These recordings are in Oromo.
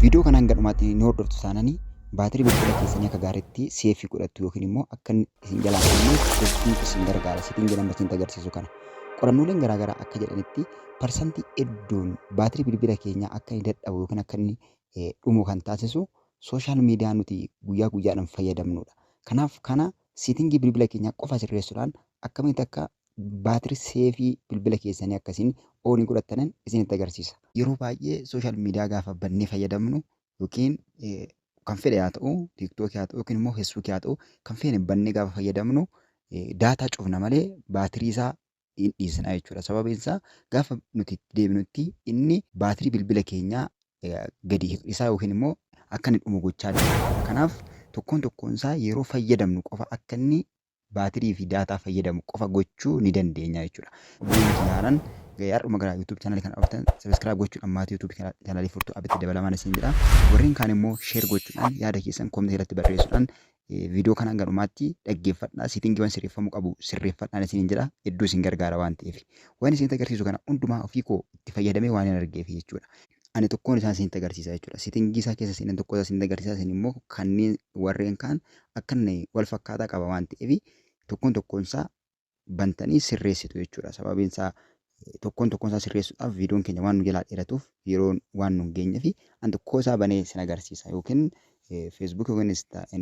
Viidiyoo kana hanga dhumaatti ni hordoftu taananii baatirii bilbila keessanii akka gaariitti seefii godhattu yookiin immoo akka inni isin jalaa hin banneef hedduun isin gargaara seetiin jedhan barsiin agarsiisu kana. Qorannooleen garaagaraa akka jedhanitti parsantii hedduun baatirii bilbila keenyaa akka inni dadhabu yookiin akka inni eh, dhumu kan taasisu sooshaal miidiyaa nuti guyyaa guyyaadhaan fayyadamnudha. Kanaaf kana seetingii bilbila keenyaa qofa sirreessuudhaan akkamitti akka Baatirii seefii bilbila keessanii akkasiin oonii godhattanan isinitti agarsiisa. Yeroo baay'ee social media gaafa bannee fayyadamnu yookiin kan fedhe haa ta'u tiktok haa ta'u yookiin immoo facebook haa ta'u kan feene bannee gaafa fayyadamnu daataa cufna malee baatirii isaa hin dhiisna jechuudha. Sababiin isaa gaafa nuti itti deebinutti inni baatirii bilbila keenyaa gadi hir'isaa yookiin immoo akka inni dhumu gochaa deema. Kanaaf tokkoon tokkoon isaa yeroo fayyadamnu qofa akka inni baatirii fi daataa fayyadamu qofa gochuu ni dandeenya jechuudha. Guyyoon xumuraanan ga'e har'uma gara YouTube channel kana dhuftan subscribe gochuudhaan maatii YouTube channel furtuu abitti dabalamaan isin jedha. Warreen kaan immoo share gochuudhaan yaada keessan comment irratti barreessuudhaan viidiyoo kana hanga dhumaatti dhaggeeffadhaa seetingiiwwan sirreeffamuu qabu sirreeffadhaan isiniin jedha hedduu isin gargaara waan ta'eef. Waan isinitti agarsiisu kana hundumaa ofii koo itti fayyadamee waan hin argeef jechuudha. ani tokkoon isaa isinitti agarsiisa jechuudha. Sitingii isaa keessa seenan tokko isaa isinitti agarsiisa isin immoo kanneen warreen kaan akka inni wal fakkaataa qaba waan ta'eef tokkoon tokkoon isaa bantanii sirreessitu jechuudha. Sababiin isaa tokkoon tokkoon isaa sirreessuudhaaf viidiyoon keenya waan nu jalaa dheeratuuf yeroon waan nu hin geenyeef an tokkoo isaa banee isin agarsiisa yookiin feesbuuk yookiin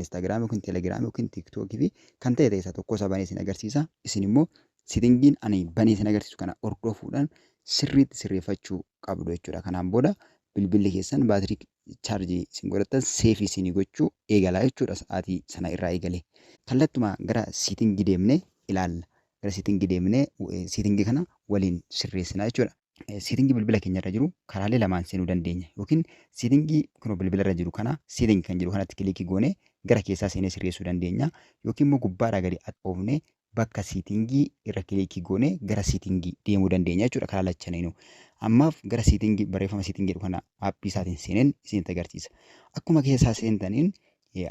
instaagiraam yookiin telegiraam yookiin tiiktookii fi kan ta'e ta'e isaa tokkoo isaa banee isin agarsiisa isin immoo sitingiin ani banee isin agarsiisu kana hordofuudhaan sirriitti sirreeffachuu qabdu jechuudha. Kanaan booda bilbilli keessan baatirii chaarjii isin godhattan seefii isinii gochuu eegala jechuudha sa'aatii sana irraa eegalee. Kallattuma gara siitingii deemnee ilaalla. Gara siitingii deemnee siitingii kana waliin sirreessina jechuudha. Siitingii bilbila keenya irra jiru karaalee lamaan seenuu dandeenya yookiin siitingii kunoo bilbila irra jiru kana siitingii kan jedhu kanatti kiliikii goonee gara keessaa seenee sirreessuu dandeenya yookiin immoo gubbaadhaa gadi oofnee bakka siitingii irra kiliikii goonee gara siitingii deemuu dandeenya jechuudha karaa lachaneenuu. Ammaaf gara siitingii barreeffama siitingii jedhu kana aappii isaatiin seeneen isinitti agarsiisa. Akkuma keessaa seentaniin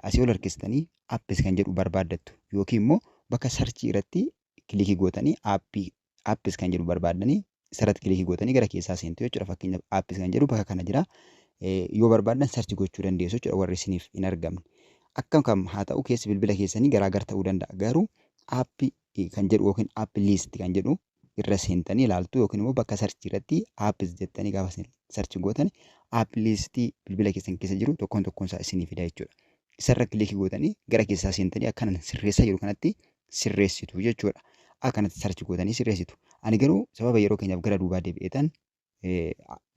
asii ol harkistanii apps kan jedhu barbaaddattu yookiin immoo bakka sarchii irratti kiliikii gootanii aappii apps kan jedhu barbaaddanii isarratti kilikii gootanii gara keessaa seentu jechuudha. Fakkeenyaaf apps kan jedhu bakka kana jira. Yoo barbaaddan sarchi gochuu dandeessu jechuudha warri isiniif hin argamne. Akkam kam haa ta'u keessi bilbila keessanii garaagar ta'uu danda'a. Garuu app kan jedhu yookiin app list kan jedhu irra seentanii ilaaltu yookiin immoo bakka sarchii irratti apps jettanii gaafa isin sarchi gootan app list bilbila keessan keessa jiru tokkoon tokkoon isaa isinii fida jechuudha. Isarra kilikii gootanii gara keessaa seentanii akkanan sirreessaa jiru kanatti sirreessitu jechuudha. Akkanatti sarchi gootanii sirreessitu. Ani garuu sababa yeroo keenyaaf gara duubaa deebi'eetan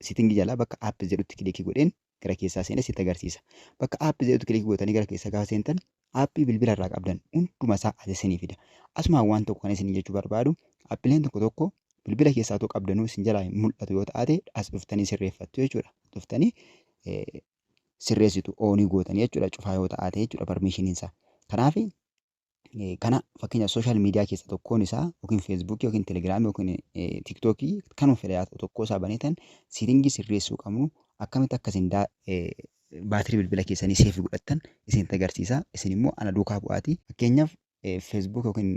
sitingi jalaa bakka app jedhutti kilikii godheen gara keessaa seenee sitti agarsiisa. Bakka app jedhutti kilikii gootanii gara keessaa gaafa seentan appii bilbila irraa qabdan hunduma isaa as isinii fida. Asumaan waan tokko kan isin jechuu barbaadu appileen tokko tokko bilbila keessaa otoo qabdanuu isin jalaa hin mul'atu yoo ta'ate as dhuftanii sirreeffattu jechuudha. Dhuftanii sirreessitu oonii gootanii jechuudha cufaa yoo ta'ate jechuudha parmiishiniin isaa. Kanaaf kana fakkeenya sooshaal miidiyaa keessa tokkoon isaa yookiin feesbuukii yookiin telegiraamii yookiin tiktookii kanuma fedha yaa ta'u tokkoo isaa baneetan siitingii sirreessuu qabnu akkamitti akka isin baatirii bilbila keessanii seefii godhattan isin agarsiisa isin immoo ana duukaa bu'aati fakkeenyaaf feesbuuk yookiin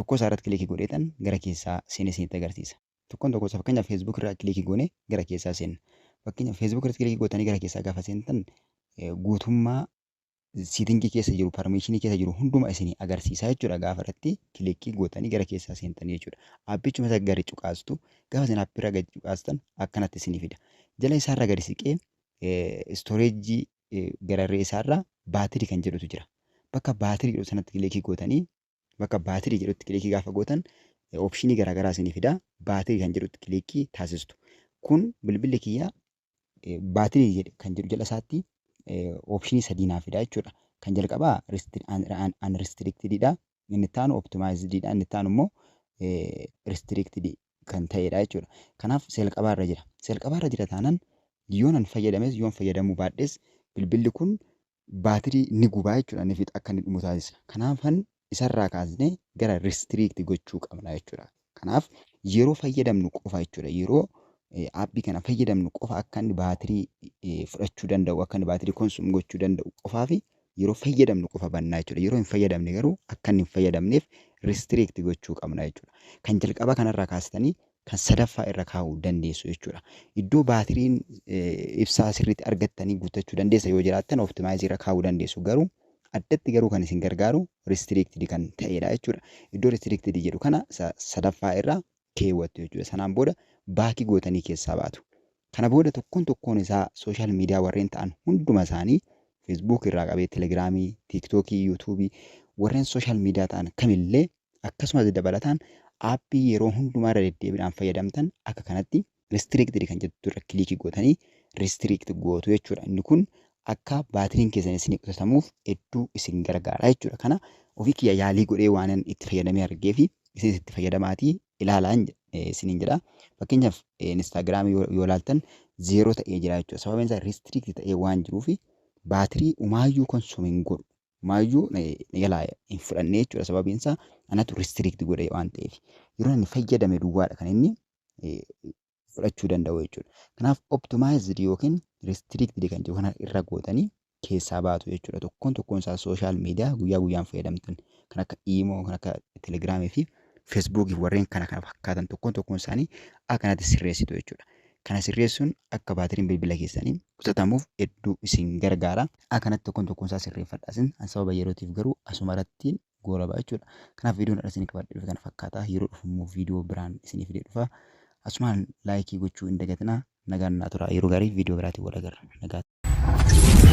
tokkoo isaa irratti kilikii godheetan gara keessaa seenee isin agarsiisa tokkoon tokkoo isaa fakkeenyaaf feesbuuk irraa kilikii goone gara keessaa seenna fakkeenyaaf feesbuuk irratti kilikii gootanii gara keessaa gaafa seentan guutummaa siitingii keessa jiru parmeeshinii keessa jiru hunduma isinii agarsiisaa jechuudha gaafa irratti kilikkii gootanii gara keessaa seentanii jechuudha aappichuma isa gadi cuqaastu gaafa isin aappirra gadi cuqaastan akkanatti isinii fida jala isaarra gadi siqee istooreejii gararree isaarra baatirii kan jedhutu jira bakka baatirii jedhu sanatti kilikkii gootanii bakka baatirii jedhutti kilikkii gaafa gootan opshinii garaagaraa isinii fida baatirii kan jedhutti kilikkii taasistu kun bilbilli kiyya baatirii jedhe kan jedhu jala isaatti oopshinii sadii naa fida jechuudha. Kan jalqabaa unrestricted dha. Inni itti aanu optimized dha. Inni itti aanu immoo restricted kan ta'edha jechuudha. Kanaaf seelqabaa irra jira. Seelqabaa irra jira taanaan yoonan fayyadames yoon fayyadamuu baadhes bilbilli kun baatirii ni gubaa jechuudha ni fixa akka inni dhumu taasisa kanaafan isarraa kaasnee gara restrict gochuu qabna jechuudha kanaaf yeroo fayyadamnu qofa jechuudha yeroo aappii kana fayyadamnu qofa akka inni baatirii fudhachuu danda'u akka inni baatirii konsum gochuu danda'u qofaa fi yeroo fayyadamnu qofa bannaa jechuudha yeroo hin fayyadamne garuu akka inni hin fayyadamneef restrict gochuu qabna jechuudha kan jalqaba kanarraa kaastanii kan sadaffaa irra kaa'uu dandeessu jechuudha. Iddoo baatiriin ibsaa sirriitti argattanii guuttachuu dandeessa yoo jiraattan optimize irra kaa'uu dandeessu garuu addatti garuu kan isin gargaaru restricted kan ta'edha jechuudha. Iddoo restricted jedhu kana sadaffaa irra keewwattu jechuudha. Sanaan booda baakii gootanii keessaa baatu. Kana booda tokkoon tokkoon isaa sooshaal miidiyaa warreen ta'an hunduma isaanii Facebook irraa qabee Telegiraamii, TikTokii, YouTubii warreen sooshaal miidiyaa ta'an kamillee Akkasumas dabalataan aappii yeroo hundumaa irra deddeebidhaan fayyadamtan akka kanatti restricted kan jettu irra kiliikii gootanii restrict gootu jechuudha. Inni kun akka baatiriin keessan isinii qusatamuuf hedduu isin gargaara jechuudha. Kana ofii kiyya yaalii godhee waanan itti fayyadamee argee fi isinis itti fayyadamaatii ilaalaan isiniin jedha. Fakkeenyaaf Instaagiraamii yoo ilaaltan zeeroo ta'ee jira jechuudha. Sababiin isaa restrict ta'ee waan jiruuf baatirii umaayyuu konsuum hin godhu. maayyuu na jalaa hin fudhannee jechuudha sababiin isaa anatu restrict godhe waan ta'eef yeroo inni fayyadame duwwaadha kan inni fudhachuu danda'u jechuudha. Kanaaf optimized yookiin restricted kan jiru kana irra gootanii keessaa baatu jechuudha. Tokkoon tokkoon isaa sooshaal miidiyaa guyyaa guyyaan fayyadamtan kan akka iimoo, kan akka telegiraamii fi feesbuukii fi warreen kana kana fakkaatan tokkoon tokkoon isaanii akkanatti sirreessitu jechuudha. Kana sirreessuun akka baatiriin bilbila keessanii qusatamuuf hedduu isin gargaara. A kanatti tokkoon tokkoon isaa sirreeffadha isin an sababa yerootiif garuu asuma irratti goolaba jechuudha. Kanaaf viidiyoon irra isin qabadhe dhufe kana fakkaata yeroo dhufu immoo viidiyoo biraan isinii fidee dhufa. Asumaan laayikii gochuu hin dagatinaa nagaan naa tura yeroo gaarii viidiyoo biraatiin wal agarra nagaa.